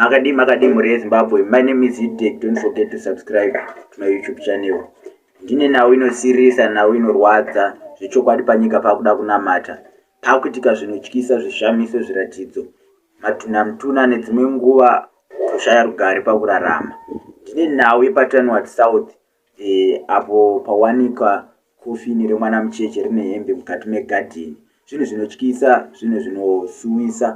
Makadii makadii mhuri yeZimbabwe, my name is Hidek, don't forget to subscribe to my YouTube channel. Ndine nhau inosirisa, nhau inorwadza, zvechokwadi panyika pakuda kunamata. Pakuitika zvinotyisa, zvishamiso, zviratidzo, matunamtuna nedzimwe nguva kushaya rugare pakurarama. Ndine nhau yepaTanwat South, E, apo pawanikwa kofini remwana mucheche rine hembe mukati megadheni, zvinhu zvinotyisa, zvinhu zvinosuwisa,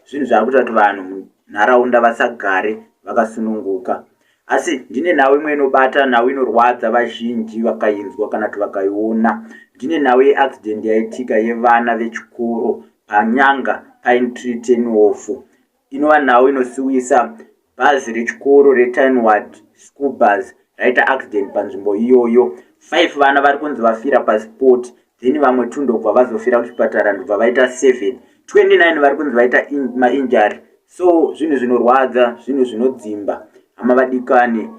zvinhu zvava kuita kuti vanhu munharaunda vasagare vakasununguka. Asi ndine nhau imwe inobata, nhau inorwadza vazhinji vakainzwa kana kuti vakaiona. Ndine nhau yeaccident yaitika yevana vechikoro panyanga pine tree tenofu inova nhau inosiwisa bhazi rechikoro retinward school bus raita accident panzvimbo iyoyo five vana vari kunzi vafira pasport then vamwe two ndokubva vazofira kuchipatara ndobva vaita seven 29 vari kunzi vaita mainjari so zvinhu zvinorwadza zvinhu zvinodzimba hama vadikani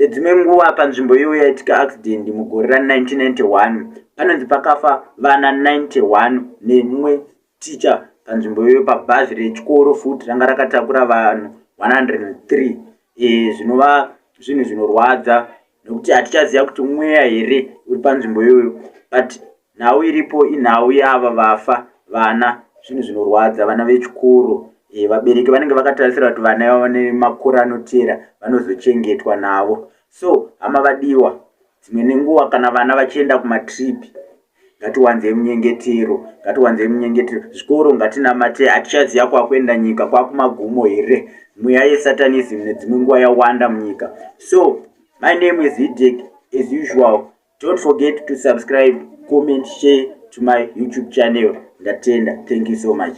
dzimwe nguva panzvimbo iyoyo yaitika accident mugore ra 1991 panonzi pakafa vana 91 nemumwe Ticha panzvimbo iyoyo pabhazi rechikoro futi ranga rakatakura vanhu 103 e, zvinova zvinhu zvinorwadza nokuti hatichaziva kuti mweya here uri panzvimbo iyoyo but nhau iripo inhau yava vafa vana zvinhu zvinorwadza vana vechikoro e, vabereki vanenge vakatarisira kuti vana ivavo nemakore anoteera vanozochengetwa navo so hama vadiwa dzimwe nenguva kana vana vachienda kumatripi Ngatiwanzei munyengetero, ngatiwanzei munyengetero. Zvikoro ngatinamate, hatichaziva kwakuenda nyika, kwakumagumo here? Mweya yesatanism nedzimwe nguva yawanda munyika. So, my name is Hidek, as usual. Don't forget to subscribe, comment, share to my YouTube channel. Ndatenda. Thank you so much.